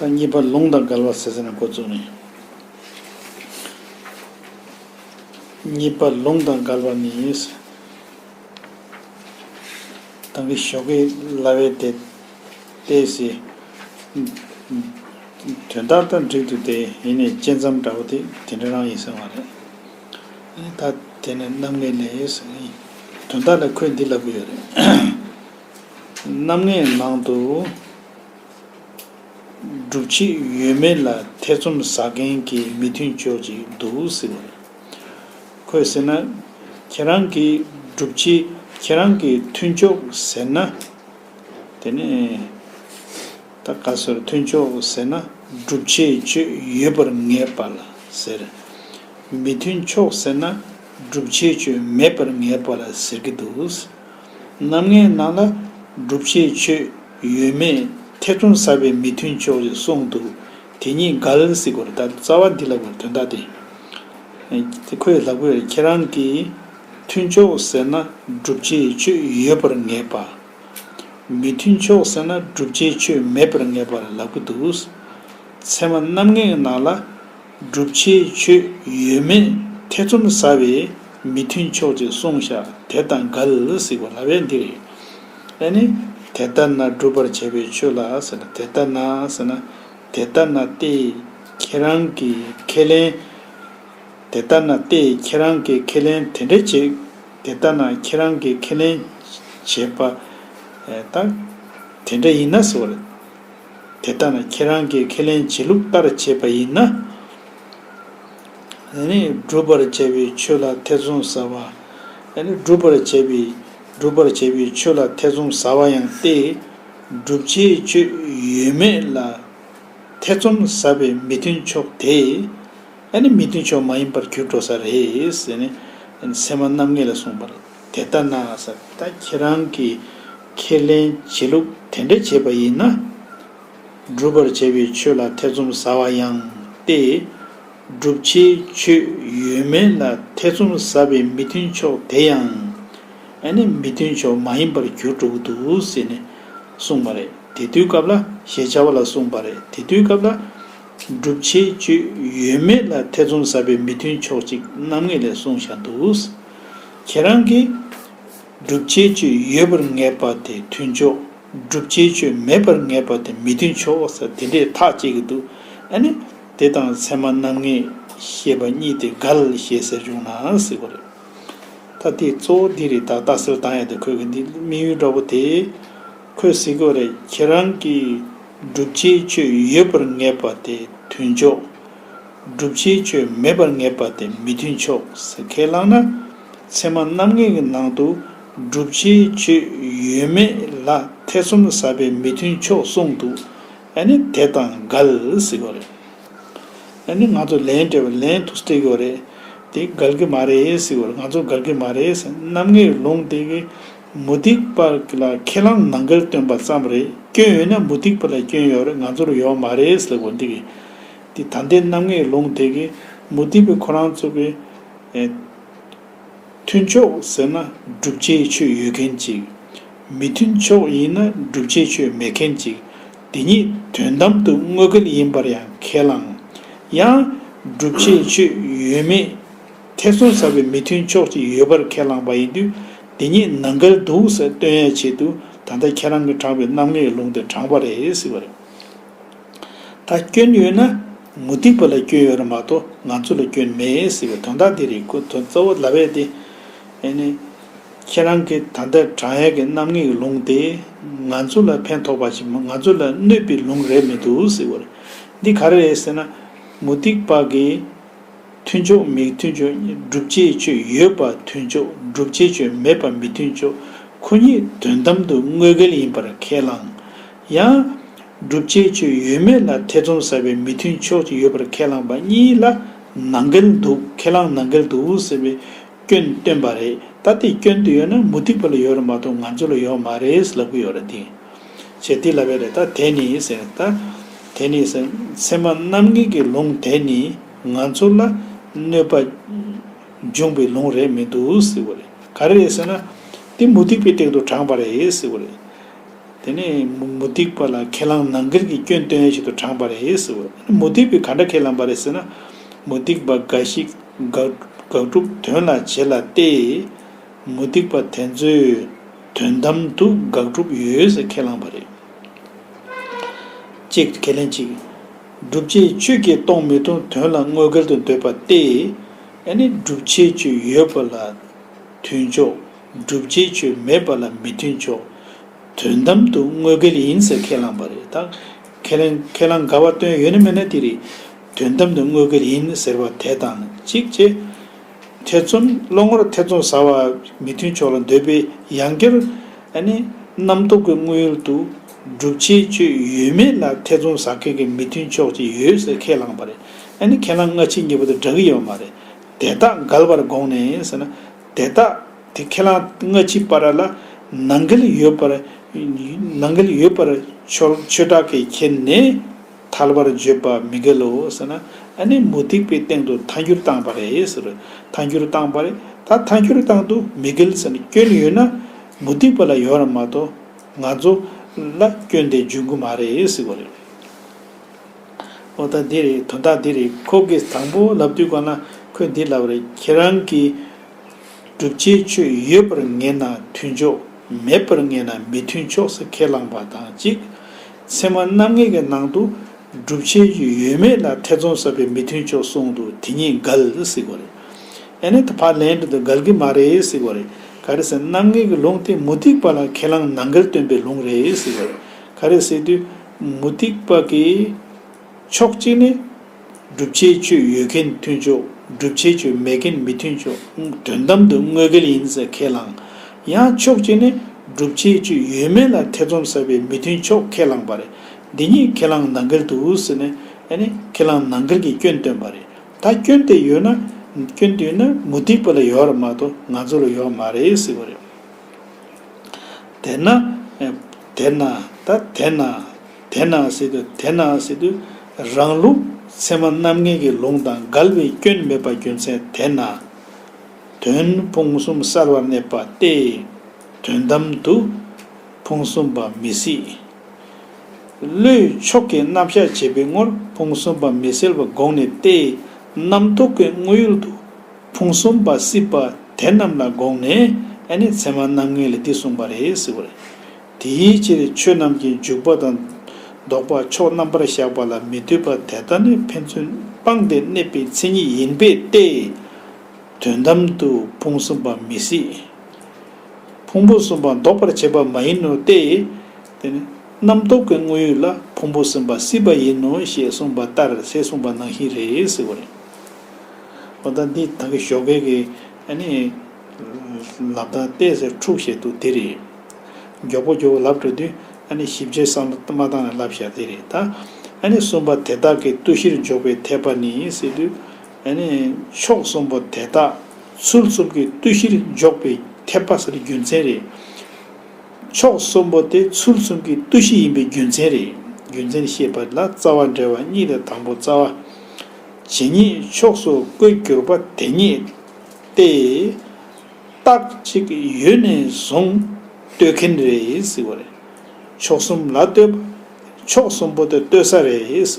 དང་གཉིས་པ་ལུང་དང་འགལ་བ་ཟེར་ཟིན་ན་འགོ་བཙུགས་ནས། གཉིས་པ་ལུང་དང་འགལ་བ་ནི། དང་གི་ཞོ་གས་ལྭ་བས་དེད་དེ་ཟེར། དོན་དག་དང་འགྲིག་འདུག་དེ་ཡིན་ནས་བཅད་མཚམས་འདྲ་བོ་དེ་དེ་འདྲ་རང་ཡིན་ཟེར་བ་རེད། ད་དེ་ནི་རྣམ་ངེས་ལས། དོན་དག་ལ་ཁོས་འདི་ལབ་གི་ཡོད་རེད། རྣམ་ལྔའི་ནང་དུ། སྒྲུབ་བྱེད་ཡོད་མེད་ལ་ཐེ་ཚོམ་ཟ་མཁན་གྱི་མི་མཐུན་ཕྱོགས་ཅིག་འདུག་ཟེར་བ་རེད། ཁོས་ཟེར་ན། ཁྱེད་རང་གིས་སྒྲུབ་བྱེད་ཁྱེད་རང་གི་མཐུན་ཕྱོགས་ཟེར་ན། དེ་ནས། ད་ག་ཟེར་མཐུན་ཕྱོགས་ཟེར་ན་སྒྲུབ་བྱེད་ཁྱོད་ཡོད་པར་ངེས་པ་ལ་ཟེར། མི་མཐུན་ཕྱོགས་ཟེར་ན་སྒྲུབ་བྱེད་ཁྱོད་མེད་པར་ངེས་པ་ལ་ཟེར་གྱི་འདུག། རྣམ་ལྔའི་ནང་ལ་སྒྲུབ་བྱེད་ཆོས་ཡོད་མེད་ཐེ་ཚོམ་ཟ་བའི་མི་མཐུན་ཕྱོགས་རེ་གསུངས་འདུག་དེ་ཉིད་དགའ་ལ་སི་གོ་ར་ལྟར་རྩ་བ་འདི་ལ་བར་དོན་དག་སྟེ། ཁོས་ལྷ་དགོས་ཁྱེད་རང་གིས་མཐུན་ཕྱོགས་ཟེར་ན་སྒྲུབ་བྱེད་ཆོས་ཡོད་པར་ངེས་པ། མི་མཐུན་ཕྱོགས་ཟེར་ན་སྒྲུབ་བྱེད་ཆོས་མེད་པར་ངེས་པར་ལབ་ཀི་འདུག། ཚད་མ་རྣམ་ལྔའི་ནང་ལ། སྒྲུབ་བྱེད་ཆོས་ཡོད་མེད་ཐེ་ཚོམ་ཟ་བའི་མི་མཐུན་ཕྱོགས་ཅིག་གསུངས་བཞག་དེ་དང་འགལ་སྲིད་པ་ལ་བས་འདི་རེད། ཨེ་ནི། དེ་ལྟར་ན་སྒྲུབ་པར་བྱ་བའི་ཆོས་ལ་ཟེར་ན་དེ་ལྟར་ན་ཟེར་ན་དེ་ལྟར་ན་སྟེ། ཁྱེད་རང་གིས་ཁས་ལེན། དེ་ལྟར་ན་སྟེ་ཁྱེད་རང་གིས་ཁས་ལེན་དེ་འདྲ་བྱེད། དེ་ལྟར་ན་ཁྱེད་རང་གིས་ཁས་ལེན་བྱེད་པ། དེ་འདྲ་ཡིན་ན་ཟེར་བ་རེད། དེ་ལྟ་ན་ཁྱེད་རང་གིས་ཁས་ལེན་བྱེད་ལུགས་ལྟར་བྱས་པ་ཡིན་ན། བསྒྲུབ་པར་བྱ་བའི་ཆོས་ལ་ཐེ་ཚོམ་ཟ་བ། སྒྲུབ་པར་བྱ་བའི་སྒྲུབ་པར་བྱ་བའི་ཆོས་ལ་ཐེ་ཚོམ་ཟ་བ་ཡང་སྟེ། བསྒྲུབ་བྱའི་ཆོས་ཡོད་མེད་ལ་ཐེ་ཚོམ་ཟ་བའི་མི་མཐུན་ཕྱོགས་དེ། མི་མཐུན་ཕྱོགས་མ་ཡིན་པར་གྱུར་འགྲོ་ས་རེད། སེམས་མ་རྣམ་ངེས་ལ་གསུངས་པ་རེད། དེ་ལྟ་ན་ཟབ་ད་ཁྱེད་རང་གི་ཁས་ལེན་བྱེད་ལུགས་དེ་འདྲ་བྱས་པ་ཡིན་ན། སྒྲུབ་པར་བྱེད་པའི་ཆོས་ལ་ཐེ་ཚོམ་ཟ་བ་ཡང་སྟེ། སྒྲུབ་བྱའི་ཆོས་ཡོད་མེད་ལ་ཐེ་ཚོམ་ཟ་བའི་མི་མཐུན་ཕྱོགས་དེ་ཡང་ཨ་ནི་མི་མཐུན་ཕྱོགས་མ་ཡིན་པར་གྱུར་འགྲོ་གི་འདུག་ཟེར་ནས་གསུངས་པ་རེད་དེ་དུས་སྐབས་ལ་ཞེས་བྱ་བ་ལ་གསུངས་པ་རེད་དེ་དུས་སྐབས་ལ། སྒྲུབ་བྱའི་ཆོས་ཡོད་མེད་ལ་ཐེ་ཚོམ་ཟ་བའི་མི་མཐུན་ཕྱོགས་གཅིག་རྣམ་ངེས་ལས་གསུངས་བཞག་འདུག། ཁྱེད་རང་གིས། བསྒྲུབ་བྱའི་སྤྱོད་ཡོད་པར་ངེས་པ་དེ་མཐུན་ཕྱོགས། བསྒྲུབ་བྱའི་སྤྱོད་མེད་པར་ངེས་པ་དེ་མི་མཐུན་ཕྱོགས་ཟེར་དེ་འདྲས་ཐག་བཅད་ཀྱི་འདུག་ཨ་ནི། དེ་དང་ཚད་མ་རྣམ་ངེས་ཞེས་པ་གཉིས་དེ་འགལ་ཞེས་ཟེར་བྱུང་ནའང་སྲིད་པ་རེད། ད་དེའི་གཙོ་བོ་འདི་རེད་ད་རྟ་སེལ་བཏང་ཡ་དེ་ཁོས་གི་འདི་དམིགས་ཡུལ་འདྲ་བོ་དེ། ཁོས་ཟེར་གི་བ་རེད་ཁྱེད་རང་གིས། བསྒྲུབ་བྱའི་སྤྱོད་ཡོད་པར་ངེས་པ་དེ་མཐུན་ཕྱོགས། བསྒྲུབ་བྱའི་ཆོས་མེད་པར་ངེས་པ་དེ་མི་མཐུན་ཕྱོགས་སུ་ཁས་བླངས་ན། ཚད་མ་རྣམ་ངེས་ཀྱི་ནང་དུ་བསྒྲུབ་བྱའི་ཆོས་ཡོད་མེད་ལ་ཐེ་ཚོམ་ཟ་བའི་མི་མཐུན་ཕྱོགས་གསུངས་འདུག་ཨ་ནི་དེ་དང་འགལ་སྲིད་གོ་རེད། ཨ་ནི་ང་ཚོ་ལན་སྤྲད་པ་ལན་དུ་སྤྲད་གི་རེད་དེ་འགལ་གི་མ་རེད་སྲིད་གོ་རེད་ང་ཚོ་འགལ་གི་མ་རེད་སྲིད་རྣམ་ངེས་ལུང་དེ་གི་མུ་སྟེགས་པ་ལ་ཁས་བླངས་ནང་འགལ་སྟོན་པ་ཙམ་རེད་སྐྱོན་ཡོད་ན་མུ་སྟེགས་པ་ལ་སྐྱོན་ཡོད་རེད་ང་ཚོར་ཡོད་མ་རེད་སྲིད་གོ་འདི་གི། འདི་ད་ལྟའི་རྣམ་ངེས་ལུང་དེ་གའི་མུ་སྟེགས་པའི་ཁོ་རང་རྩོད་པའི། མཐུན་ཕྱོགས་ཟེར་ན་བསྒྲུབ་བྱའི་ཆོས་ཡོད་མཁན་ཅིག། མི་མཐུན་ཕྱོགས་ཡིན་ན་བསྒྲུབ་བྱའི་ཆོས་མེད་མཁན་ཅིག་དེ་ཉིད་དོན་དམ་དུ་དངོས་འགལ་ཡིན་པར་ཡང་ཁས་བླང། ཡང། བསྒྲུབ་བྱའི་ཆོས་ཡོད་མེད་ཐེ་ཚོམ་ཟ་བའི་མི་མཐུན་ཕྱོགས་ཅིག་ཡོད་པར་ཁས་བླངས་པ་ཡིན་དུས་དེ་ཉིད་ནང་འགལ་འདུག་ཟེར་སྟོན་ཡ་ཆེད་དུ་ད་ལྟ་ཁྱེད་རང་གིས་དྲངས་པའི་རྣམ་ངེས་ལུང་དེ་དྲངས་པ་རེད་ཟེར་བ་རེད། ད་སྐྱོན་ཡོད་ན་མུ་སྟེགས་པ་ལ་སྐྱོན་ཡོད་རེད་མ་གཏོགས་ང་ཚོ་ལ་སྐྱོན་མེད་ཟེར་བའི་དོན་དག་འདི་རེད་གོ་དོན་གཙོ་བོ་ལ་བས་ཏེ། ཨེ་ནས། ཁྱེད་རང་གི་ད་ལྟའི་བགྲང་ཡས་ཀྱི་རྣམ་ངེས་ཀྱི་ལུང་དེ་ང་ཚོ་ལ་ཕན་ཐོགས་པ་ཞིག་མ་ང་ཚོ་ལ་གནོད་པའི་ལུང་རེད་མི་འདུག་ཟེར་བ་རེད། འདི་ག་རེད་ཟེར་ན། མུ་སྟེགས་པ་གིས་མཐུན་ཕྱོགས་མི་མཐུན་ཕྱོགས་བསྒྲུབ་བྱའི་ཆོས་ཡོད་པ་མཐུན་ཕྱོགས་བསྒྲུབ་བྱའི་ཆོས་མེད་པ་མི་མཐུན་ཕྱོགས་ཁོ་གཉིས་དོན་དམ་དུ་དངོས་འགལ་ཡིན་པར་ཁས་བླངས། ཡང། བསྒྲུབ་བྱའི་ཆོས་ཡོད་མེད་ལ་ཐེ་ཚོམ་ཟ་བའི་མི་མཐུན་ཕྱོགས་གཅིག་ཡོད་པར་ཁས་བླངས་པ་གཉིས་ལ་ནང་འགལ་འདུག་ཁས་བླངས་ནང་འགལ་འདུག་ཟེར་བའི་སྐྱོན་བཏོན་པ་རེད་ད་དེ་སྐྱོན་དེ་ཡོད་ན་མུ་ཏིག་ཕ་ལ་ཡོད་ར་མ་གཏོགས་ང་ཚོ་ལ་ཡོད་མ་རེད་ལབ་གི་ཡོད་ར་དེ། བྱེད་དེ་ལབ་པའི་རེད་ད་དེ་ནི་ཟེར་ད་དེ་ནི་ཟེར་ཚད་མ་རྣམ་ངེས་ཀྱི་ལུང་དེ་ནི་ང་ཚོ་ལ་གནོད་པ་འབྱུང་བའི་ལུང་རེད་མི་འདུག་ཟེར་བ་རེད་ག་རེ་རེད་ཟེར་ན་དེ་མུ་ཏིག་པའི་སྟེང་དུ་དྲངས་པ་རེད་ཟེར་བ་རེད། དེ་ནས་མུ་སྟེགས་པ་ལ་ཁས་བླངས་ན་འགལ་གྱི་སྐྱོན་སྟོན་ཡས་ཤིག་ཏུ་དྲངས་པ་རེད་ཟེར་བས་མུ་སྟེགས་པས་ག་འདྲ་ཁས་བླངས་པ་རེད་ཟེར་ན། མུ་སྟེགས་པ་འགའ་ཞིག་དགག་སྒྲུབ་དོན་ལ་བྱེད་ལ་སྟེ། མུ་སྟེགས་པ་དེ་ཚོས་དོན་དམ་དུ་དགག་སྒྲུབ་ཡོད་ཟེར་ཁས་བླངས་པ་རེད། ཅེས་ཁས་ལེན་གྱིས། སྒྲུབ་བྱེད་ཆོས་བརྒྱད་སྟོང་མི་མཐོང་དོན་ལ་དངོས་འགལ་དུ་འདོད་པ་སྟེ། ཡང་ན་སྒྲུབ་བྱེད་ཆོས་ཡོད་པ་ལ་དུས་མཆོག། སྒྲུབ་བྱེད་ཆོས་མེད་པ་ལ་མི་མཐུན་ཕྱོགས། དོན་དམ་དུ་དངོས་སྐལ་ཡིན་ཟེར་ཁས་བླངས་པ་རེད་ད། ཁས་ལེན་ཁས་བླངས་དགའ་བ་སྟོན་ཡོད་ནི་མེད་ན་དེ་རེད། དོན་དམ་དུ་དངོས་སྐལ་ཡིན་ཟེར་བ་དེ་དང་གཅིག་ཅེས། ཐེ་ཚོམ་བློ་ངོར་ཐེ་ཚོམ་ཟ་བ་མི་མཐུན་ཕྱོགས་ལ་འདོད་པའི་ཡང་སྐྱར། རྣམ་རྟོག་གི་དངོས་ཡུལ་དུ། སྒྲུབ་བྱེད་ཆོས་ཡོད་མེད་ལ་ཐེ་ཚོམ་ཟ་མཁན་གྱི་མི་མཐུན་ཕྱོགས་ཅིག་ཡོད་ཟེར་ཁས་བླངས་པ་རེད། ཁས་བླངས་སྔ་ཕྱི་གཉིས་པོ་དེ་འདྲ་གི་ཡོད་མ་རེད། དེ་དག་འགལ་བར་དགོངས་ནས་ཟེར་ན། དེ་དག་དེ་ཁས་བླངས་སྔ་ཕྱི་པ་ར་ལ་ནང་འགལ་ཡོད་པར་ནང་འགལ་ཡོད་པར་ཆོལ་ཆོས་དག་གིས་ཁྱེར་ནས་ཐལ་བར་བརྗོད་པ་མི་འགལ་ལོ་ཟེར་ན་ཨ་ནི་མུ་སྟེགས་པའི་སྟེང་དུ་ཐལ་འགྱུར་བཏང་བ་རེད་ཟེར་ཐལ་འགྱུར་བཏང་བ་རེད་ད་ཐལ་འགྱུར་བཏང་འདུག་མི་འགལ་ཟེར་སྐྱོན་ཡོད་ན་མུ་སྟེགས་པ་ལ་ཡོད་ར་མ་གཏོགས་ང་ཚོ་ལ་སྐྱོན་དེ་འབྱུང་གི་མ་རེད་ཟེར་བ་རེད། ཨོ་ད་འདི་རེད་དོན་དག་འདི་རེད་ཁོ་གིས་དང་པོ་ལབ་དུས་ཀོ་ན་ཁོས་འདི་ལབ་རེད་ཁྱེད་རང་གིས་སྒྲུབ་བྱའི་ཆོས་ཡོད་པར་ངེས་ན་མཐུན་ཕྱོགས་མེད་པར་ངེས་ན་མི་མཐུན་ཕྱོགས་སུ་ཁས་བླངས་པ་དང་གཅིག་ཚེ་མ་རྣམ་ངེས་ཀྱི་ནང་དུ་སྒྲུབ་བྱའི་ཆོས་ཡོད་མེད་ལ་ཐེ་ཚོམ་ཟ་བའི་མི་མཐུན་ཕྱོགས་གསུངས་འདུག་དེ་གཉིས་འགལ་སྲིད་གོ་རེད་ཨེ་ནད་བར་ལན་འདི་འགལ་གི་མ་རེད་སྲིད་གོ་རེད་ག་རེ་ཟེར་རྣམ་ངེས་ཀྱི་ལུང་དེ་མུ་སྟེགས་པ་ལ་ཁས་བླངས་ནང་འགལ་སྟོན་པའི་ལུང་རེད་སྲིད་གོ་རེད་ག་རེ་ཟེར་དུས། མུ་སྟེགས་པ་གི་ཕྱོགས་གཅིག་ནི། བསྒྲུབ་བྱའི་སྤྱོད་ཡོད་མཁན་མཐུན་ཕྱོགས་བསྒྲུབ་བྱའི་སྤྱོད་མེད་མཁན་མི་མཐུན་ཕྱོགས་དོན་དམ་དུ་དངོས་འགལ་ཡིན་ཟེར་ཁས་བླངས། ཡང་ཕྱོགས་གཅིག་ནི་བསྒྲུབ་བྱའི་སྤྱོད་ཡོད་མེད་ལ་ཐེ་ཚོམ་ཟ་བའི་མི་མཐུན་ཕྱོགས་ཁས་བླངས་པ་རེད། འདི་གཉིས་ཁས་བླངས་ནང་འགལ་དུ་ཟེར་ནས་ནི་ཁས་བླངས་ནང་འགལ་གྱི་སྐྱོན་བཏོན་པ་རེད། ད་སྐྱོན་དེ་ཡོད་ན། སྐྱོན་དེ་ཡོད་ན་མུ་སྟེགས་པ་ལ་ཡོད་ར་མ་གཏོགས་ང་ཚོ་ལ་ཡོད་མ་རེད་ཟེར་བ་རེད། དེ་ན་དེ་ན་ད་དེ་ན་དེ་ན་སི་ཏུ་དེ་ན་སི་ཏུ་རང་ལུགས་ཚད་མ་རྣམ་ངེས་ཀྱི་ལུང་དང་འགལ་བའི་སྐྱོན་མེད་པ་རྒྱུ་མཚན་དེས་ན། དོན་ཕུང་གསུམ་གསར་བར་གནས་པ་སྟེ། དོན་དམ་དུ་ཕུང་གསུམ་པ་མི་སྲིད། བློའི་མཆོག་གི་རྣམ་གཞག་བྱེད་པའི་ངོར་ཕུང་གསུམ་པ་མི་སྲིད་པ་དགོངས་ནས་ཏེ། རྣམ་རྟོག་གི་དངོས་ཡུལ་དུ། ཕུང་གསུམ་པ་སྲིད་པ་དེ་རྣམས་ལ་དགོངས་ནས་ཨ་ནི་ཚད་མ་རྣམ་ལྔས་ལས་འདི་གསུངས་པ་རེད་ཟེར་བ་རེད། དེའི་ཕྱིར་ཆོས་རྣམས་ཀྱི་འཇུག་པ་དང། ལྡོག་པ་ཕྱོགས་རྣམ་པར་བཞག་པ་ལ་མི་ལྟོས་པ་དེ་དག་ནི་ཕན་ཚུན་སྤངས་ཏེ་གནས་པའི་མཚན་ཉིད་ཡིན་པས་ཏེ། དོན་དམ་དུ་ཕུང་གསུམ་པ་མི་སྲིད། ཕུང་པོ་གསུམ་པ་ལྡོག་པར་བྱེད་པ་མ་ཡིན་ནོ་སྟེ། དེ་ནི་རྣམ་རྟོག་གི་དངོས་ཡུལ་ལ་ཕུང་པོ་གསུམ་པ་སྲིད་པ་ཡིན་ནོ་ཞེས་གསུངས་པ་ལྟར་ཟད་གསུངས་པ་ནང་བཞིན་རེད་ཟེར་བ་རེད། ལྟ། འདི་དག་གི་ཞོགས་ཀལ་གྱི། ལབ་དང་རྟའི་ཟེར་འཁྲུགས་བྱེད་དུ་དེ་རེད། མགྱོགས་པོ་མགྱོགས་པོ་ལབ་འགྲོ་དུས། ཞིབ་ཆའི་སྲང་མ་དང་ལ་ལབ་བཞག་དེ་རེད། གསུམ་པ་དེ་དག་གི་ལྟོས་གཞིར་འཇོག་པའི་འཐད་པ་ནི་སྲིད་དུ། ཕྱོགས་གསུམ་པོ་དེ་དག་ཚུལ་གསུམ་གྱི་ལྟོས་གཞིར་འཇོག་པའི་འཐད་པ་ཟེར་རྒྱུ་མཚན་རེད། ཕྱོགས་གསུམ་པོ་དེ་ཚུལ་གསུམ་གྱི་ལྟོས་གཞི་ཡིན་པའི་རྒྱུ་མཚན་རེད། རྒྱུ་མཚན་ཤེས་པ་ལ་རྩ་བ་འགྲེལ་བ་གཉིས་ལས་དང་པོ་རྩ་བ། ཇི་སྙེད་ཕྱོགས་སུ་བཀོད་གྱུར་པ་དེ་སྙེད་དེ། རྟགས་གཅིག་ཡུལ་ནས་བཟུང་བསྟོད་མཁན་རེད། ཕྱོགས་གསུམ་ལ་བསྟོད་པ། ཕྱོགས་གསུམ་པོ་དེ་བསྟོད་ས་རེད། བྱས་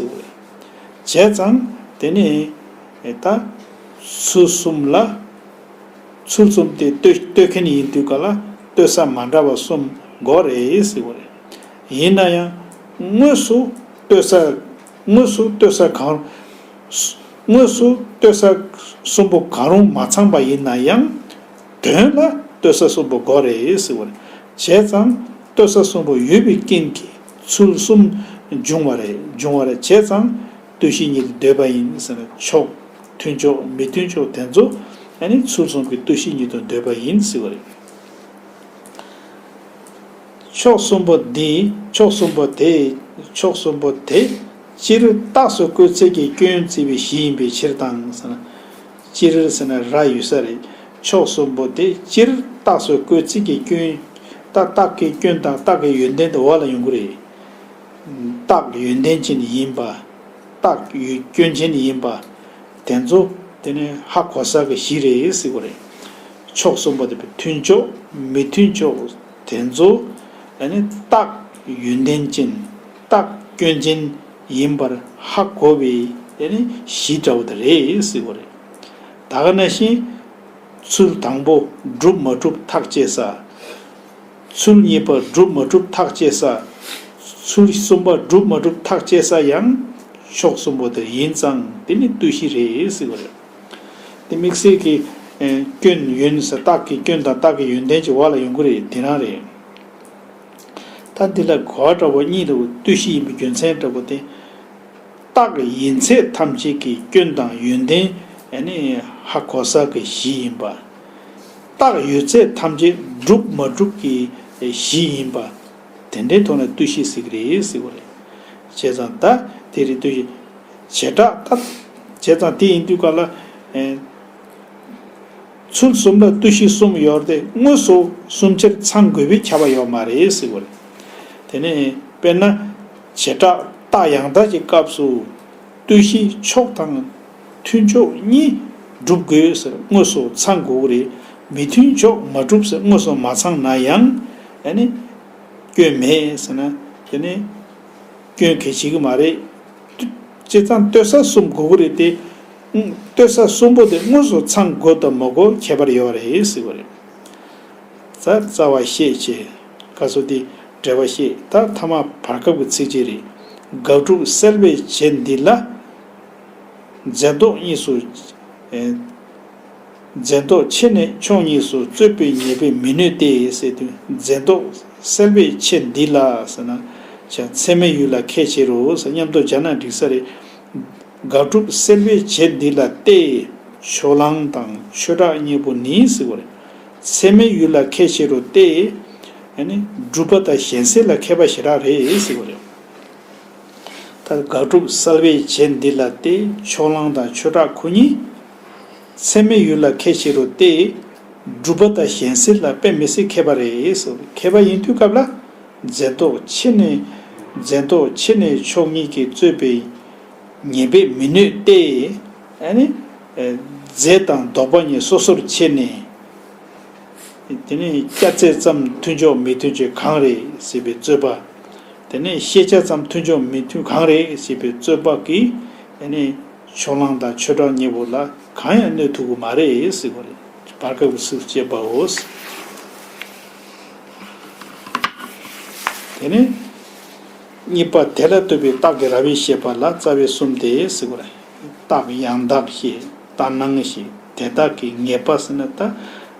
ཙང་དེ་ནས་ད། ཚུལ་གསུམ་ལ། ཚུལ་གསུམ་དེ་བསྟོད་མཁན་ཡིན་དུས་ག་ལ་བསྟོད་ས་མ་འདྲ་བ་གསུམ་འགོག་རེད། ཡིན་ན་ཡང་དངོས་སུ་བསྟོད་ས། དངོས་སུ་ལྟོས་ས་གང། དངོས་སུ་ལྟོས་ས་གསུམ་པོ་གང་རུང་མ་ཚང་པ་ཡིན་ན་ཡང། དོན་ལ་ལྟོས་ས་གསུམ་པོ་དགོས་རེད་ཟེར་བར་བྱས་ཙང་ལྟོས་ས་གསུམ་པོ་ཡོད་པའི་རྐྱེན་གྱིས་ཚུལ་གསུམ་འབྱུང་བ་རེད་འབྱུང་བར་བྱས་ཙང་ལྟོས་གཞི་ཉིད་དུ་འདོད་པ་ཡིན་ཟེར་ན་ཆོག་མཐུན་ཕྱོགས་མི་མཐུན་ཕྱོགས་དེ་ཚོ་ནི་ཚུལ་གསུམ་གྱི་ལྟོས་གཞི་ཉིད་དུ་འདོད་པ་ཡིན་ཟེར་བ་རེད། མཆོག་གསུམ་པོ་འདིས་མཆོག་གསུམ་པོ་དེས་མཆོག་གསུམ་པོ་དེ། ཅི་རིགས་རྟགས་སུ་བཀོད་ཚད་ཀྱི་སྐྱོན་བརྩི་བའི་གཞི་ཡིན་པའི་ཕྱིར་དང། ཅི་རིགས་ཟེར་ན་ར་ཡོད་ས་རེད། མཆོག་གསུམ་པོ་དེ་ཅི་རིགས་རྟགས་སུ་བཀོད་ཚད་ཀྱི་སྐྱོན། རྟགས་རྟགས་ཀྱི་སྐྱོན་དང་རྟགས་ཀྱི་ཡོན་ཏན་དུ་འོག་ལ་ཡོང་གི་རེད། རྟགས་ཡོན་ཏན་ཅན་ཡིན་པ། རྟགས་སྐྱོན་ཅན་ཡིན་པ། དེ་ཚོ་དེ་ནི་ཧ་གོ་ས་ཀྱི་གཞི་རེད་ཟེར་གི་རེད། མཆོག་གསུམ་པོ་དེ་མཐུན་ཕྱོགས་མི་མཐུན་ཕྱོགས། དེ་ཚོ་ནི་རྟག་ཡོན་ཏན་ཅན་རྟག་སྐྱོན་ཅན་ཡིན་པར་ཧ་གོ་བའི་གཞི་འདྲ་བོ་དེ་རེད་ཟེར་བ་རེད། ད་ག་ན་བཞིན་ཚུལ་དང་པོ་གྲུབ་མ་གྲུབ་ཐག་བཅད་ས། ཚུལ་གཉིས་པ་གྲུབ་མ་གྲུབ་ཐག་བཅད་ས། ཚུལ་གསུམ་པ་གྲུབ་མ་གྲུབ་ཐག་བཅད་ས་ཡང་ཕྱོགས་གསུམ་པོ་དེ་ཡིན་ཙང་དེ་ནི་ལྟོས་གཞི་རེད་ཟེར་བ་རེད། དེ་དམིགས་བསལ་གྱི། སྐྱོན། ཡོན་ནི་ས་རྟགས་ཀྱི་སྐྱོན་དང་རྟགས་ཀྱི་ཡོན་ཏན་གྱི་བར་ལ་ཡོང་གི་རེད་དེ་རང་རེད། ད་འདི་ལ་གོ་བ་འདྲ་བོ་གཉིས་འདུག་ལྟོས་གཞི་ཡིན་པའི་རྒྱུ་མཚན་འདྲ་བོ་དེ། རྟགས་ཡིན་ཚད་ཐམས་ཅད་ཀྱི་སྐྱོན་དང་ཡོན་ཏན། ནི་ཧ་གོ་ས་ཀྱི་གཞི་ཡིན་པ། རྟགས་ཡོད་ཚད་ཐམས་ཅད་སྒྲུབ་མ་སྒྲུབ་ཀྱི་གཞི་ཡིན་པ། དེ་འདྲའི་ཐོག་ནས་བརྟུལ་ཞིག་ཟེར་གྱི་རེད་ཟེར་བ་རེད། བྱས་ཙང་ད་དེ་རེད་བརྟུལ་ཞིག། བྱེ་བྲག་ལྟར། བྱས་ཙང་དེ་ཡིན་དུས་ག་ལ། ཚུལ་གསུམ་ལ་བརྟུལ་ཞིག་གསུམ་ཡོད་རེད་དེ་དངོས་སུ་གསུམ་ཆར་ཚང་དགོས་པའི་ཁྱབ་པ་ཡོད་མ་རེད་ཟེར་བ་རེད། དེ་ནས་དཔེར་ན། བྱེ་བྲག་རྟགས་ཡང་དག་གི་སྐབས་སུ། བརྟུལ་ཞིག་མཆོག་དང། མཐུན་ཕྱོགས་གཉིས་བསྒྲུབ་དགོས་ཟེར་དངོས་སུ་ཚང་དགོས་ཀྱི་རེད། མི་མཐུན་ཕྱོགས་མ་བསྒྲུབ་ཟེར་དངོས་སུ་མ་ཚང་ན་ཡང། ཡ་ནི། སྐྱོན་མེད་ཟེར་ན། ཡ་ནི། སྐྱོན་གལ་ཆེ་གི་མ་རེད། བསྐྱེད་ཚང་བསྟོད་ས་གསུམ་དགོས་ཀྱི་རེད་དེ། བསྟོད་ས་གསུམ་པོ་དེ་དངོས་སུ་ཚང་དགོས་དང་མ་དགོས་ཁྱད་པར་ཡོད་རེད་ཟེར་གྱི་རེད། རྩ་རྩ་བ་ཤེས་བྱས། ཀ་གསོ་དེ། འབྲེལ་བ་ཤེས་ད་མཐའ་མ་བར་སྐབས་ཀྱི་ཚིག་གཅིག་རེད། དགག་སྒྲུབ་གསལ་བའི་བྱེད་འདི་ལ། རྫས་ལྡོག་གཉིས་སུ། རྫས་ལྡོག་ཕྱེད་ནི་ཕྱོགས་གཉིས་སུ་རྩོད་པའི་ཉེས་པས་མི་གནོད་དེ། སྲེད་དུ་རྫས་ལྡོག་སེལ་བའི་ཕྱེད་འདི་ལ་ཟེར་ན། བྱ་ཚད་མའི་ཡུལ་ལ་ཁས་འཆེ་རུ་ཟེར་སྙམ་དུ་སྦྱར་ན་འགྲིག་ས་རེད། དགག་སྒྲུབ་སེལ་བའི་ཕྱེད་འདི་ལ་སྟེ། ཕྱོགས་གླང་དང་ཆོས་གྲགས་གཉིས་པོ་ནི་ཟེར་བ་རེད། ཚད་མའི་ཡུལ་ལ་ཁས་འཆེ་རུ་སྟེ། སྒྲུབ་པ་དང་གཞན་སེལ་ལ་མཁས་པ་ཞེ་དྲག་རེད་ཟེར་བ་རེད། ད་དགག་སྒྲུབ་གསལ་བའི་རྗེས་འདི་ལ་སྟེ་ཕྱོགས་གླང་དང་ཆོས་གྲགས་ཁོ་གཉིས། ཚད་མའི་ཡུལ་ལ་ཁས་འཆེ་རུང་སྟེ། སྒྲུབ་པ་དང་གཞན་སེལ་ལ་དཔེ་མི་སྲིད་མཁས་པ་རེད། མཁས་པ་ཡིན་དུས་སྐབས་ལ། འཛེམ་དོགས་ཆེ་ནས། འཛེམ་དོགས་ཆེ་ནས་ཕྱོགས་གཉིས་ཀྱིས་རྩོད་པའི། ཉེས་པས་མི་གནོད་སྟེ། རྫས་དང་ལྡོག་པ་གཉིས་སོ་སོར་ཕྱེ་ནས། དེ་ནས་སྐྱ་ཚད་ཙམ་མཐུན་ཕྱོགས་མི་མཐུན་ཆོས་གང་རེད་ཟེར་བའི་རྩོད་པ། དེ་ནས་ཤེས་བྱ་ཙམ་མཐུན་ཕྱོགས་མི་མཐུན་གང་རེད་ཞེས་པའི་རྩོད་པ་གིས་དེ་ནས་ཕྱོགས་གླང་དང་ཆོས་གྲགས་གཉིས་པོ་ལ་གང་ཡང་གནོད་ཐུབ་ཀྱི་མ་རེད་ཟེར་བ་རེད། བར་སྐབས་ཀྱི་སུས་བཅད་པའོ། དེ་ནས་གཉིས་པ་དེ་ལ་ལྟོས་པའི་རྟགས་ཀྱི་ར་བའི་ཤེས་པ་ལ་རྩ་བའི་གསུམ་སྟེ་ཟེར་བ་རེད། རྟགས་ཡང་དག་ཤེས་རྟགས་སྣང་ཤེས་དེ་དག་གི་ངེས་པ་ཟེར་ན་ད་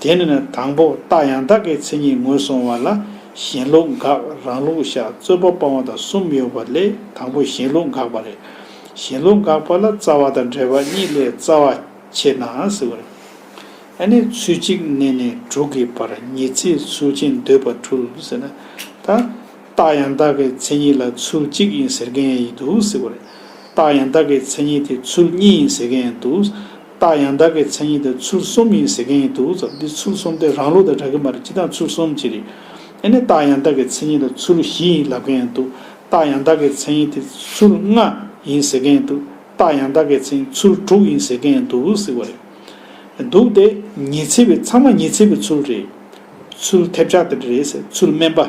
དེ་ནས་དང་པོ་རྟགས་ཡང་དག་གི་མཚན་ཉིད་ངོས་བཟུང་བ་ལ་གཞན་ལུགས་འགག་རང་ལུགས་བཞག་རྩོད་པ་སྤང་བ་དང་གསུམ་ཡོད་པ་ལས་དང་པོ་གཞན་ལུགས་འགག་པ་རེད། གཞན་ལུགས་འགག་པ་ལ་རྩ་བ་དང་འབྲེལ་བ་གཉིས་ལས་རྩ་བ་ཆེས་ན་ཟེར་བ་རེད། ཨ་ནི་ཚུལ་གཅིག་གནས་ནས་དྲུག་གི་བར་ངེས་ཚིག་ཚུལ་ཅན་འདོད་པ་འཁྲུལ་ཟེར་ན། ད་རྟགས་ཡང་དག་གི་མཚན་ཉིད་ལ་ཚུལ་གཅིག་ཡིན་ཟེར་མཁན་ཡང་ཡིན་འདུག་ཟེར་བ་རེད། རྟགས་ཡང་དག་གི་མཚན་ཉིད་དེ་ཚུལ་གཉིས་ཡིན་ཟེར་མཁན་ཡང་འདུག། རྟགས་ཡང་དག་གི་མཚན་ཉིད་དེ་ཚུལ་གསུམ་ཡིན་ཟེར་མཁན་ཡིན་འདུག་ཙང་འདི་ཚུལ་གསུམ་དེ་རང་ལུགས་དང་འདྲ་གི་མ་རེད་ཅི་སྟངས་ཚུལ་གསུམ་གྱི་རེད། ཨེ་ནས་རྟགས་ཡང་དག་གི་མཚན་ཉིད་དེ་ཚུལ་བཞི་ཡིན་ལབ་མཁན་ཡང་འདུག་རྟགས་ཡང་དག་གི་མཚན་ཉིད་དེ་ཚུལ་ལྔ་ཡིན་ཟེར་མཁན་ཡང་འདུག་རྟགས་ཡང་དག་གི་མཚན་ཉིད་ཚུལ་དྲུག་ཡིན་ཟེར་མཁན་ཡང་འདུག་ཟེར་བ་རེད་འདུག་དེ་ཉི་ཚེ་བའི་ཚང་མ་ཉི་ཚེ་བའི་ཚུལ་རེད། ཚུལ་ཐེབས་ཆག་དེ་འདྲ་རེད་ཟེར་ཚུལ་དམན་པ།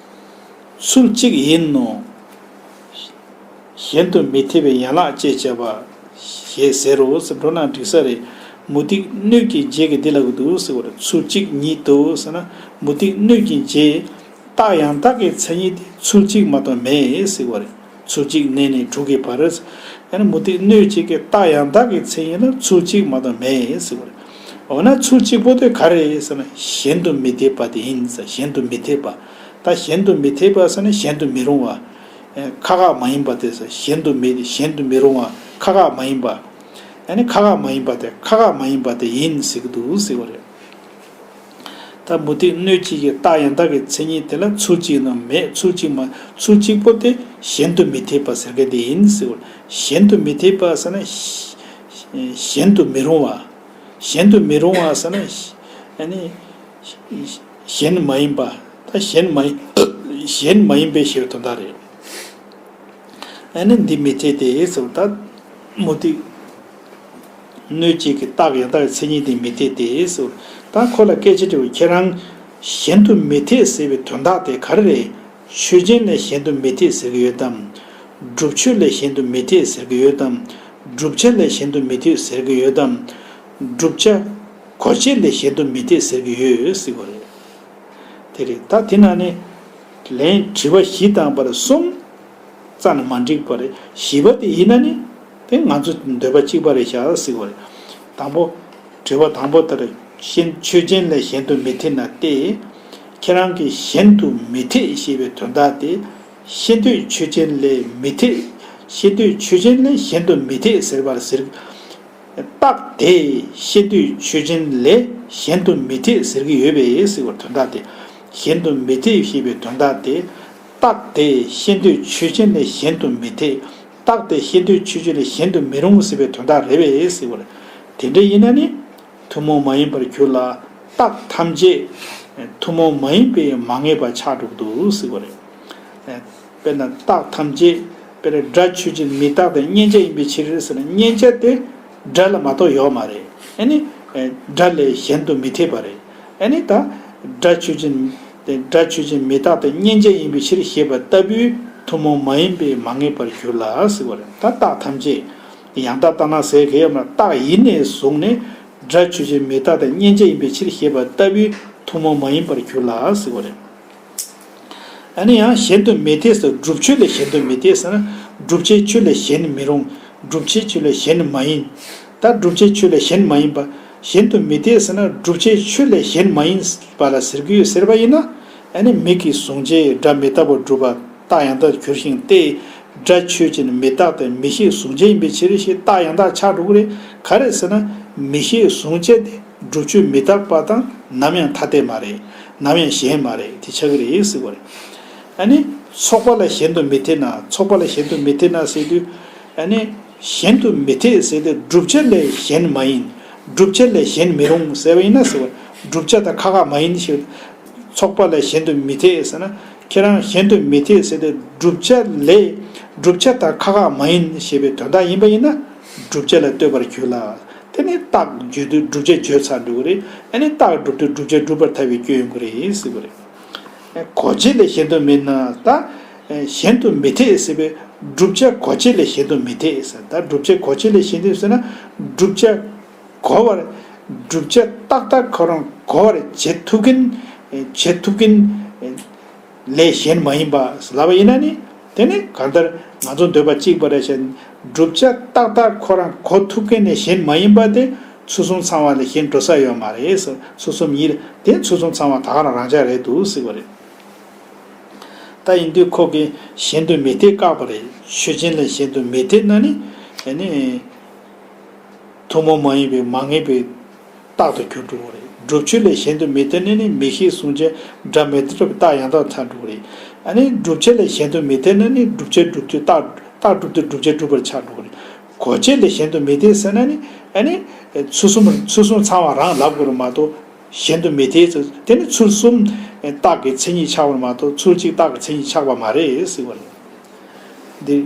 ཚུལ་གཅིག་ཡིན་ནོ། གཞན་དུ་མི་ཐེ་བའི་ཡན་ལག་ཅེས་བྱ་བ། ཞེས་ཟེར་རོ། འགྲོ་ན་འགྲིག་ས་རེད། མུ་ཏིག་སྣོད་ཀྱི་རྗེས་ཀྱི་འདི་ལ་གི་འདུག་ཟེར་བར་ཚུལ་གཅིག་ཉིད་དུ་ཟེར་ན་མུ་ཏིག་སྣོད་ཀྱི་རྗེས། རྟགས་ཡང་དག་གི་མཚན་ཉིད་དེ་ཚུལ་གཅིག་མ་གཏོགས་མེད་ཟེར་བ་རེད། ཚུལ་གཅིག་གནས་ནས་དྲུག་གི་བར། ཡང་ན་མུ་སྟེགས་སྣོད་གཅིག་གི་རྟགས་ཡང་དག་གི་མཚན་ཉིད་ལ་ཚུལ་གཅིག་མ་དང་མེད་ཟེར་བ་རེད། འོ་ན་ཚུལ་གཅིག་པོ་དེ་ག་རེད་ཟེར་ན་གཞན་དུ་མི་འཐད་པ་དེ་ཡིན་ཟེར་གཞན་དུ་མི་འཐད་པ། ད་གཞན་དུ་མི་འཐད་པ་ཟེར་ན་གཞན་དུ་མི་རུང་བ། ཁ་ཁ་མ་ཡིན་པ་དེ་ཟེར་གཞན་དུ་མི་གཞན་དུ་མི་རུང་བ་ཁ་ཁ་མ་ཡིན་པ། ཡང་ན་ཁ་ཁ་མ་ཡིན་པ་དེ་ཁ་ཁ་མ་ཡིན་པ་དེ་ཡིན་ཟེར་གྱི་འདུག་ཟེར་བ་རེད། ད་མུ་སྟེགས་སྣོད་གཅིག་གི་རྟགས་ཡང་དག་གི་མཚན་ཉིད་དེ་ལ་ཚུལ་གཅིག་ནོ་མེད་ཚུལ་གཅིག་མ་ཚུལ་གཅིག་པོ་དེ་གཞན་དུ་མི་འཐད་པ་ཟེར་ག་དེ་ཡིན་ཟེར་བ་གཞན་དུ་མི་འཐད་པ་ཟེར་ན། གཞན་དུ་མི་རུང་བ། གཞན་དུ་མི་རུང་བ་ཟེར་ན། གཞན་མ་ཡིན་པ། ད་གཞན་མ་གཞན་མ་ཡིན་པའི་ཕྱིར་དོ་ད་རེད། ཨ་ནི་འདི་མི་འཐད་དེ་ཟེར་བ་ད་མུ་སྟེགས། གནོད་བྱེད་ཀྱི་རྟགས་ཡང་དག་གི་མཚན་ཉིད་དེ་མི་འཐད་དེ། ད་ཁོ་ལ་སྐད་ཆ་དྲིས་པར་ཁྱེད་རང། གཞན་དུ་མི་འཐད་ཟེར་བའི་དོན་དག་དེ་ག་རེ་རེད། ཆོས་ཅན་ལས་གཞན་དུ་མི་འཐད་ཟེར་གྱི་ཡོད་དམ། སྒྲུབ་ཆོས་ལས་གཞན་དུ་མི་འཐད་ཟེར་གྱི་ཡོད་དམ། བསྒྲུབ་བྱ་ལས་གཞན་དུ་མི་འཐད་ཟེར་གྱི་ཡོད་དམ། བསྒྲུབ་བྱ། གོ་བྱེད་ལས་གཞན་དུ་མི་འཐད་ཟེར་གྱི་ཡོད་སྲིད་པ་རེད། དེ་རེད་ད་དེ་ན་ནི། ལན། དྲི་བ་བཞི་དང་བར་གསུམ། རྩ་ནི་མ་འགྲིག་པ་རེད། བཞི་པ་དེ་ཡིན་ན་ནི། དེ་ང་ཚོ་འདོད་པ་གཅིག་པ་རེད་བྱ་སྲིད་པ་རེད། དང་པོ། དྲི་བ་དང་པོ་ལྟར་གཞན་ཆོས་ཅན་ལས་གཞན་དུ་མི་ཐེ་ན་སྟེ། ཁྱེད་རང་གིས་གཞན་དུ་མི་ཐེ་ཞེས་པའི་དོན་དག་དེ། ཤེས་འདོད་ཆོས་ཅན་ལས་མི་ཐེ། ཤེས་འདོད་ཆོས་ཅན་ལས་གཞན་དུ་མི་ཐེ་ཟེར་བར་ཟེར། རྟགས་དེས་ཤེས་འདོད་ཆོས་ཅན་ལས་གཞན་དུ་མི་ཐེ་ཟེར་གྱི་ཡོད་པས་ཟེར་བར་དོན་དག་དེ། གཞན་དུ་མི་ཐེ་ཞེས་པའི་དོན་དག་དེ། རྟགས་དེས་ཤེས་འདོད་ཆོས་ཅན་ལས་གཞན་དུ་མི་ཐེ། རྟགས་དེ་ཤེས་འདོད་ཆོས་བཅུ་ལས་གཞན་དུ་མི་རུང་ཟེར་བའི་དོན་དག་རེད་བས་ཟེར་བར། དེ་འདྲ་ཡིན་ན་ནི། ཐུན་མོང་མ་ཡིན་པར་གྱུར་ལ། རྟགས་ཐམས་ཅད། ཐུན་མོང་མ་ཡིན་པས་མ་ངེས་པ་ཆགས་འགྲོ་གི་འདུག་ཟེར་བ་རེད། དཔེར་ན་རྟགས་ཐམས་ཅད། དཔེར་ན་སྒྲ་ཆོས་ཅན་མི་རྟག་དང་མཉན་བྱ་ཡིན་པའི་ཕྱིར་ཟེར་ན་མཉན་བྱ་དེ། སྒྲ་ལ་མ་གཏོགས་ཡོད་མ་རེད། ཡང་ནི། སྒྲ་ལས་གཞན་དུ་མི་འཐད་པ་རེད། ཨ་ནི་ད། སྒྲ་ཆོས་ཅན། སྒྲ་ཆོས་ཅན་མི་རྟག་པའི་མཉན་བྱ་ཡིན་པའི་ཕྱིར་ཞེས་པ་ལྟ་བུའི་ཐུན་མོང་མ་ཡིན་པས་མ་ངེས་པར་འགྱུར་ལ་ཟེར་བ་རེད། ད་རྟགས་ཐམས་ཅད་ཡང་དག་རྟགས་ན་ཟེར་གི་ཡོད་མ་རྟགས་ཡེ་ནས་བཟུང་ནས་སྒྲ་ཆོས་ཅན་མི་རྟག་པའི་མཉན་བྱ་ཡིན་པའི་ཕྱིར་ཞེས་པ་ལྟ་བུའི་ཐུན་མོང་མ་ཡིན་པར་འགྱུར་ལ་ཟེར་བ་རེད། ཨ་ནི་ཡང་གཞན་དུ་མི་འཐད་ས་བསྒྲུབ་ཆོས་ལས་གཞན་དུ་མི་འཐད་ས་ན་བསྒྲུབ་བྱའི་ཆོས་ལས་གཞན་ནི་མི་རུང་བསྒྲུབ་བྱའི་ཆོས་ལས་གཞན་ནི་མ་ཡིན། ད་བསྒྲུབ་བྱའི་ཆོས་ལས་གཞན་མ་ཡིན་པ་གཞན་དུ་མི་འཐད་ས་ན་བསྒྲུབ་བྱའི་ཆོས་ལས་གཞན་མ་ཡིན་པ་ལ་ཟེར་གྱི་ཡོད་ཟེར་བ་ཡིན་ན་ཨ་ནི་མིག་གིས་བཟུང་བྱའི་སྒྲ་མི་རྟག་པར་སྒྲུབ་པ་རྟགས་ཡང་དག་གྱུར་ཞིང་དེས་སྒྲ་ཆོས་ཅན་མི་རྟག་སྟེ་མི་ཤེས་བཟུང་བྱ་ཡིན་པའི་ཕྱིར་ཞེས་རྟགས་ཡང་དག་ཆགས་འགྲོ་གི་རེད་ག་རེད་ཟེར་ན་མི་ཤེས་བཟུང་བྱ་དེ། སྒྲུབ་ཆོས་མི་རྟག་པ་དང་ནམ་ཡང་ཐ་དད་མ་རེད། ནམ་ཡང་གཞན་མ་རེད་དེ་ཆགས་ཀྱི་རེད་ཟེར་བ་རེད། ཨ་ནི། ཚོགས་པ་ལ་གཞན་དུ་མི་འཐད་ན་ཚོགས་པ་ལ་གཞན་དུ་མི་འཐད་ན་ཟེར་དུས། ཨ་ནི། གཞན་དུ་མི་འཐད་ཟེར་དུས་བསྒྲུབ་བྱ་ལས་གཞན་མ་ཡིན། བསྒྲུབ་བྱ་ལས་གཞན་མི་རུང་ཟེར་བ་ཡིན་ན་ཟེར་བ། བསྒྲུབ་བྱ་དང་ཁ་ཁ་མ་ཡིན་ཞེས། ཚོགས་པ་ལ་གཞན་དུ་མི་འཐད་ཟེར་ན། ཁྱེད་རང་གཞན་དུ་མི་འཐད་ཟེར་དུས་བསྒྲུབ་བྱ་ལས། བསྒྲུབ་བྱ་དང་ཁ་ཁ་མ་ཡིན་ཞེས་པའི་དོན་དག་ཡིན་པ་ཡིན་ན། སྒྲུབ་བྱེད་ལ་ལྟོས་པར་གྱུར་ལ། དེ་ནི་རྟགས་བརྗོད་དུས་བསྒྲུབ་བྱ་བརྗོད་ཚར་འགྲོ་གི་རེད། ཨ་ནི་རྟགས་བསྒྲུབ་དུས་བསྒྲུབ་བྱ་བསྒྲུབ་པར་ཐལ་བའི་སྐྱོན་ཡོང་གི་རེད་ཟེར་གི་རེད། གོ་བྱེད་ལས་གཞན་དུ་མེད་ན་ད། གཞན་དུ་མི་འཐད་ཟེར་བས། བསྒྲུབ་བྱ་གོ་བྱེད་ལས་གཞན་དུ་མི་འཐད་ཟེར་ད་བསྒྲུབ་བྱ་གོ་བྱེད་ལས་གཞན་དུ་ཟེར་ན། བསྒྲུབ་བྱ། གོ་བར། བསྒྲུབ་བྱ་ཏག་ཏག་ཁོ་རང་གོ་བར་བྱེད་ཐུབ་གིན། བྱེད་ཐུབ་གིན། ལས་གཞན་མ་ཡིན་པས་ལབ་པ་ཡིན་ན་ནི་དེ་ནི་གང་ལྟར་ང་ཚོ་འདོད་པ་གཅིག་པ་རེད་བྱས་བསྒྲུབ་བྱ་ཏག་ཏག་ཁོ་རང་གོ་ཐུབ་མཁན་ལས་གཞན་མ་ཡིན་པ་དེ་ཚུལ་གསུམ་ཚང་བ་ལས་གཞན་འགྲོ་ས་ཡོད་མ་རེད་ཟེར་ཚུལ་གསུམ་ཡིན་དེ་ཚུལ་གསུམ་ཚང་བ་དག་རང་རང་ཅག་རེད་འདུག་ཟེར་བ་རེད། ད་ཡིན་དུས་ཁོ་གིས་གཞན་དུ་མི་ཐེ་བཀག་པ་རེད་ཆོས་ཅན་ལས་གཞན་དུ་མི་ཐེ་ན་ནི། ཐུན་མོང་མ་ཡིན་པའི་མ་ངེས་པའི། རྟགས་དང་རྒྱུར་འགྲོ་བ་རེད། སྒྲུབ་ཆོས་ལས་གཞན་དུ་མི་དད་ན་ནི་མི་ཤེས་གསུངས་བྱས་སྒྲ་མི་དད་སྒྲུབ་རྟགས་ཡང་དག་མཚར་འགྲོ་བ་རེད། ཨ་ནི་སྒྲུབ་བྱེད་ལས་གཞན་དུ་མི་དད་ན་ནི་སྒྲུབ་བྱེད་སྒྲུབ་དུས་རྟགས། རྟགས་སྒྲུབ་དུས་སྒྲུབ་བྱེད་སྒྲུབ་པར་ཆགས་འགྲོ་བ་རེད། གོ་བྱེད་ལས་གཞན་དུ་མི་དད་ཟེར་ན་ནི། ཨ་ནི། ཚུལ་གསུམ་ཚུལ་གསུམ་ཚང་བ་རང་ལབ་དགོས་པ་མ་གཏོགས། གཞན་དུ་མི་དད། དེ་ནི་ཚུལ་གསུམ། རྟགས་ཀྱི་མཚན་ཉིད་ཆགས་པར་མ་གཏོགས་ཚུལ་གཅིག་རྟགས་ཀྱི་མཚན་ཉིད་ཆགས་པ་མ་རེད་ཟེར་བ་རེད། འདིར།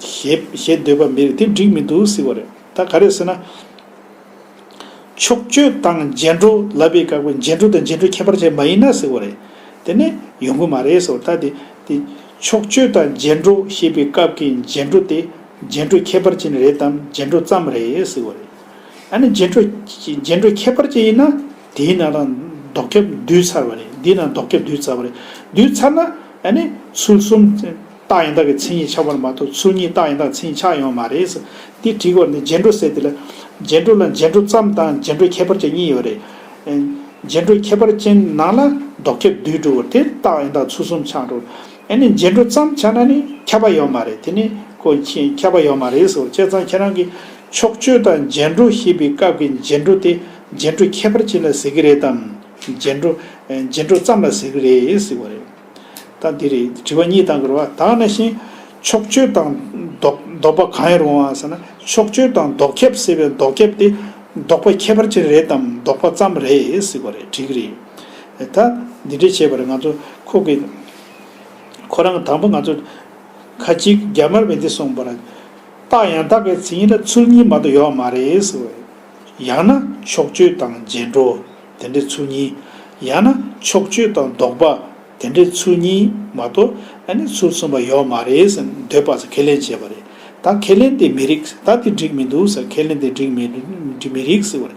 ཞེས་ཞེས་འདོད་པ་མི་རེད་དེ་འགྲིག་མི་འདུག་ཟེར་བ་རེད་ད་ག་རེད་ཟེར་ན། ཕྱོགས་བསྐྱོད་དང་རྗེས་འགྲོ་ལབ་པའི་བཀའ་བསྒོས་རྗེས་འགྲོ་དང་རྗེས་འགྲོའི་ཁྱད་པར་ཅན་མ་ཡིན་ན་ཟེར་བ་རེད། དེ་ནས་ཡོང་གི་མ་རེད་ཟེར་བ་ད་དེ་དེ། ཕྱོགས་བསྐྱོད་དང་རྗེས་འགྲོ་ཞེས་པའི་སྐབས་ཀྱི་རྗེས་འགྲོ་དེ་རྗེས་འགྲོའི་ཁྱད་པར་ཅན་རེད་དམ་རྗེས་འགྲོ་ཙམ་རེད་ཟེར་བ་རེད། ཡང་ན་རྗེས་འགྲོ་རྗེས་འགྲོའི་ཁྱད་པར་ཅན་ཡིན་ན་དེའི་ནང་ན་ལྡོག་སྐྱབས་འདུས་ཚར་བ་རེད་འདིའི་ནང་ལྡོག་སྐྱབས་འདུས་ཚར་བ་རེད་འདུས་ཚར་ན་ཡང་ནི་ཚུལ་གསུམ། རྟགས་ཡང་དག་གི་མཚན་ཉིད་ཆགས་པར་མ་གཏོགས་ཚུལ་གཉིས་རྟགས་ཡང་དག་མཚན་ཉིད་ཆགས་ཡོང་བ་མ་རེད། འདི་བྲིས་སྐོར་ནི་རྗེས་འགྲོ་ཟེར་དེ་ལ། རྗེས་འགྲོ་ལ་རྗེས་འགྲོ་ཙམ་དང་རྗེས་འགྲོའི་ཁྱད་པར་ཅན་གཉིས་ཡོད་རེད། རྗེས་འགྲོའི་ཁྱད་པར་ཅན་ནང་ལ་ལྡོག་ཁྱབ་བསྡུས་གྲུབ་བོར་དེར་རྟགས་ཡང་དག་ཚུལ་གསུམ་ཆགས་འགྲོ། ཨེ་ནས་རྗེས་འགྲོ་ཙམ་ཆགས་ན་ནི་ཁྱབ་པ་ཡོད་མ་རེད་དེ་ནི་ཁོ་ཁྱབ་པ་ཡོད་མ་རེད་ཟེར་བ་བྱས་ཙང་ཁྱེད་རང་གིས་ཕྱོགས་ཆོས་དང་རྗེས་འགྲོ་ཞེས་པའི་སྐབས་ཀྱི་རྗེས་འགྲོ་དེ་རྗེས་འགྲོའི་ཁྱད་པར་ཅན་ལ་ཟེར་གྱི་རེད་དམ། རྗེས་འགྲོ། རྗེས་འགྲོ་ཙམ་ལ་ཟེར་གྱི་རེད་ཟེར་བ་རེད། དང་འདི་རེད་དྲི་བ་གཉིས་དང་དགོས་པ་དག་ནི་ཞིང། ཕྱོགས་ཆོས་དང་ལྡོག་ལྡོག་པ་གང་ཡིན་རུང་བ་ཟེར་ན་ཕྱོགས་ཆོས་དང་ལྡོག་ཁྱབ་ཟེར་བའི་ལྡོག་ཁྱབ་དེ་ལྡོག་པ་ཁྱད་པར་ཅན་རེད་དམ་ལྡོག་པ་ཙམ་རེད་ཟེར་བ་རེད་དྲིག་རེད། ད་འདི་འདྲས་བྱས་པར་ང་ཚོ་ཁོ་གི། ཁོ་རང་དང་པོ་ང་ཚོ། ཁ་ཅིག་རྒྱ་དམར་བས་འདི་གསུངས་པར། རྟགས་ཡང་དག་གི་ཚིག་ཡིན་ན་ཚུལ་གཉིས་མ་གཏོགས་ཡོད་མ་རེད་ཟེར་བ་རེད། ཡང་ན་ཕྱོགས་ཆོས་དང་རྗེས་འགྲོ། དེ་འདྲའི་ཚུལ་གཉིས། ཡང་ན་ཕྱོགས་བཅུ་དང་ལྡོག་པ་དེ་འདྲའི་ཚུལ་གཉིས་མ་གཏོགས་ནི་ཚུལ་གསུམ་པ་ཡོད་མ་རེད་ཟེར་འདོད་པ་ཟེར་ཁས་ལེན་བྱས་པ་རེད། ད་ཁས་ལེན་དེ་མི་རིགས་ཟེར་ད་དེ་འགྲིག་མི་འདུག་ཟེར་ཁས་ལེན་དེ་འགྲིག་མི་མི་རིགས་ཟེར་བ་རེད།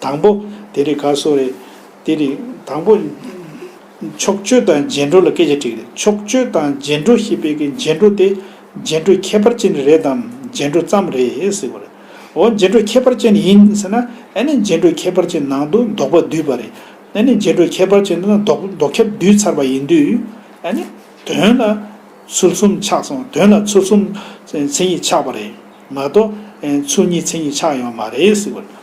དང་པོ། དེ་རིགས་ག་སོགས་རེད། དེ་རིགས། དང་པོ། ཕྱོགས་བཅུ་དང་རྗེས་འགྲོ་ལ་སྐད་ཆ་དྲིས་རེད། ཕྱོགས་བཅུ་དང་རྗེས་འགྲོ་ཞེས་པའི་གི་རྗེས་འགྲོ་དེ་རྗེས་འགྲོའི་ཁྱད་པར་ཅན་རེད་དམ་རྗེས་འགྲོ་ཙམ་རེད་ཟེར་བ་རེད། འོ་རྗེ་འགྲོའི་ཁྱད་པར་ཅན་ཡིན་ཟེར་ན་ཨེ་ནི་རྗེ་འགྲོའི་ཁྱད་པར་ཅན་ནང་དུ་ལྡོག་པ་བསྡུས་པ་རེད། ཨེ་ནི་རྗེ་འགྲོའི་ཁྱད་པར་ཅན་དེ་ན་ལྡོག་ཁྱབ་བསྡུས་ཚར་བ་ཡིན་དུས། ཨེ་ནི། དོན་ལ། ཚུལ་གསུམ་ཆགས་སོང་དོན་ལ་ཚུལ་གསུམ། མཚན་ཉིད་ཆགས་པ་རེད་མ་གཏོགས། ཚུལ་གཉིས་མཚན་ཉིད་ཆགས་ཡོང་བ་མ་རེད།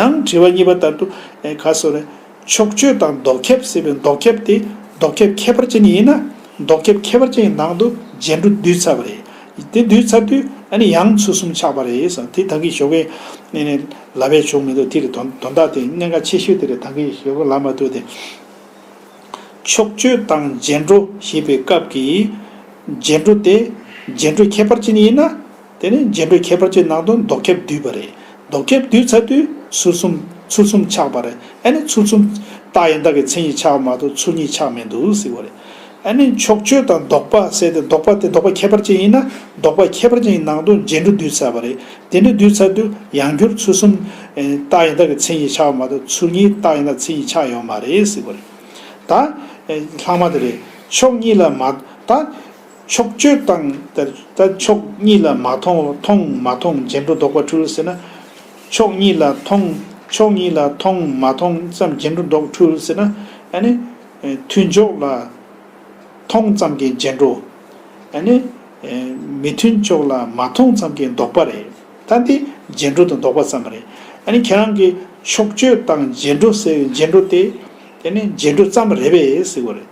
ཡང་དྲི་བ་གཉིས་པ་ལྟར་དུ། ག་སོ་རེད། ཕྱོགས་ཆོས་དང་ལྡོག་ཁྱབ་ཟེར་བའི་ལྡོག་ཁྱབ་དེ་ལྡོག་ཁྱབ་ཁྱད་པར་ཅན་ཡིན་ན། ལྡོག་ཁྱབ་ཁྱད་པར་ཅན་གྱི་ནང་དུ་རྗེས་འགྲོ་བསྡུས་ཚར་བ་རེད། དེ་བསྡུས་ཚར་དུས་ཨ་ནི་ཡང་ཚུལ་གསུམ་ཆགས་པ་རེད། དེ་ད་གིན་ཞོགས་པའི་གནས་ནས་ལབ་པའི་ཆོ་མི་འདུག་དེ་རེད་དོན་དག་དེ་གནད་འགག་ཆེ་ཤོས་དེ་རེད་ད་གིན་ཞོགས་པའི་ལབ་མ་ཐུབ་སྟེ། ཕྱོགས་ཆོས་དང་རྗེས་འགྲོ་ཞེས་པའི་སྐབས་ཀྱི་རྗེས་འགྲོ་དེ་རྗེས་འགྲོ་ཁྱད་པར་ཅན་ཡིན་ན། དེ་ནས་རྗེན་པའི་ཁྱད་པར་གྱི་ནང་དུ་མདོག་ཁྱབ་བསྡུས་པ་རེད། མདོག་ཁྱབ་བསྡུས་ཚར་དུས་ཚུལ་གསུམ། ཚུལ་གསུམ་ཆགས་པ་རེད་ཨ་ནི་ཚུལ་གསུམ། རྟགས་ཡང་དག་གི་མཚན་ཉིད་ཆགས་པ་མ་གཏོགས་ཚུལ་གཉིས་ཆགས་མེད་འདུག་ཟེར་བ་རེད། ཨ་ནི་ཕྱོགས་ཆོས་དང་ལྡོག་པ་བསལ་ཏེ་ལྡོག་པ་དེ་ལྡོག་པ་ཁྱད་པར་ཅན་ཡིན་ན་ལྡོག་པ་ཁྱད་པར་ཅན་གྱི་ནང་དུ་རྗེན་གྲུ་བསྡུས་ཚར་བ་རེད། དེ་འདྲ་བསྡུས་ཚར་དུས་ཡང་བསྒྱུར་ཚུལ་གསུམ། རྟགས་ཡང་དག་གི་མཚན་ཉིད་ཆགས་པ་མ་གཏོགས་ཚུལ་གཉིས་རྟགས་ཡང་དག་མཚན་ཉིད་ཆགས་ཡོད་མ་རེད་ཟེར་བ་རེད། ད། ལྷག་མ་དེ་རེད། ཕྱོགས་གཉིས་ལ་མ། ད། ཕྱོགས་ཆོས་དང་དེར་ལྟ་ཕྱོགས་གཉིས་ལ་མ་མཐོང་མཐོང་མ་མཐོང་རྗེས་འགྲོ་ལྡོག་པ་འཁྲུལ་ཟེར་ན། ཕྱོགས་གཉིས་ལ་མཐོང་ཕྱོགས་གཉིས་ལ་མཐོང་མ་མཐོང་ཙམ་རྗེས་འགྲོ་ལྡོག་འཁྲུལ་ཟེར་ན། ཨ་ནི། མཐུན་ཕྱོགས་ལ་མཐོང་ཙམ་གྱི་རྗེས་འགྲོ། ཨ་ནི། མི་མཐུན་ཕྱོགས་ལ་མ་མཐོང་ཙམ་གྱི་ལྡོག་པ་རེད། ད་འདི་རྗེས་འགྲོ་དང་ལྡོག་པ་ཙམ་རེད། ཨ་ནི་ཁྱེད་རང་གིས་ཕྱོགས་ཆོས་དང་རྗེས་འགྲོ་ཟེར་བའི་རྗེས་འགྲོ་དེ། དེ་ནི་རྗེས་འགྲོ་ཙམ་རེད་བས་ཟེར་དགོས་རེད།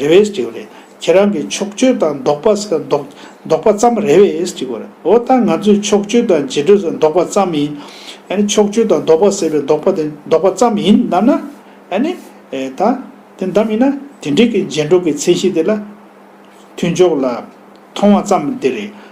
རེད་བས་ཟེར་དགོས་རེད། ཁྱེད་རང་གིས་ཕྱོགས་བསྐྱོད་དང་ལྡོག་པ་ཟེར་ལྡོག་པ་ཙམ་རེད་བས་ཅི་དགོས་རེད་འོ་ད་ང་ཚོས་ཕྱོགས་བསྐྱོད་དང་རྗེས་འགྲོས་ཟེར་ལྡོག་པ་ཙམ་ཡིན་ཨ་ནི་ཕྱོགས་བསྐྱོད་དང་ལྡོག་པ་ཟེར་བའི་ལྡོག་པ་དེ་ལྡོག་པ་ཙམ་ཡིན་གདམས་ན་ཨ་ནི་ད་དེ་འདམས་ཡིན་ན་དེ་འབྲེལ་གྱི་རྗེས་འགྲོ་གི་ཚད་གཞི་དེ་ལ་མཐུན་ཕྱོགས་ལ་མཐོང་བ་ཙམ་དེ་རེད།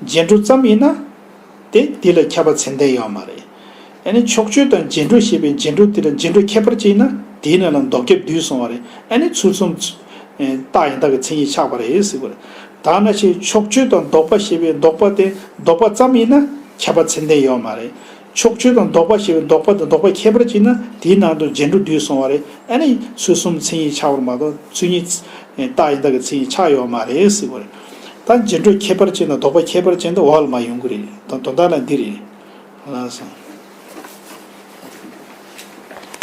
རྗེས་འགྲོ་ཙམ་ཡིན་ན། དེ་དེ་ལ་ཁྱབ་པ་ཚད་ལྡན་ཡོད་མ་རེད། ཨ་ནི་ཕྱོགས་ཆོས་དང་རྗེས་འགྲོ་ཞེས་པའི་རྗེས་འགྲོ་དེ་ལ་རྗེས་འགྲོ་ཁྱད་པར་ཅན་ཡིན་ན་དེའི་ནང་ལ་འདོགས་ཁྱབ་བསྡུས་སོང་བ་རེད་ཨ་ནི་ཚུལ་གསུམ། རྟགས་ཡང་དག་གི་མཚན་ཉིད་ཆགས་པ་རེད་ཟེར་དགོས་རེད། དག་སྣ་ཆའི་ཕྱོགས་ཆོས་དང་ལྡོག་པ་ཞེས་པའི་ལྡོག་པ་དེ་ལྡོག་པ་ཙམ་ཡིན་ན་ཁྱབ་པ་ཚད་ལྡན་ཡོད་མ་རེད། ཕྱོགས་ཆོས་དང་ལྡོག་པ་ཞེས་པའི་ལྡོག་པ་དང་ལྡོག་པའི་ཁྱད་པར་གྱིས་ན་དེའི་ནང་དུ་རྗེས་འགྲོ་བསྡུས་སོང་བ་རེད་ཨ་ནི་ཚུལ་གསུམ་མཚན་ཉིད་ཆགས་པར་མ་གཏོགས་ཚུལ་གཉིས། རྟགས་ཡང་དག་གི་མཚན་ཉིད་ཆགས་ཡོད་པ་མ་རེད་ཟེར་བ་རེད། ད་རྗེས་འགྲོ་ཁྱད་པར་ཅན་དང་ལྡོག་པ་ཁྱད་པར་ཅན་དུ་འོག་ལ་མ་ཡོང་གི་རེད་དོན་དག་ནི་འདི་རེད།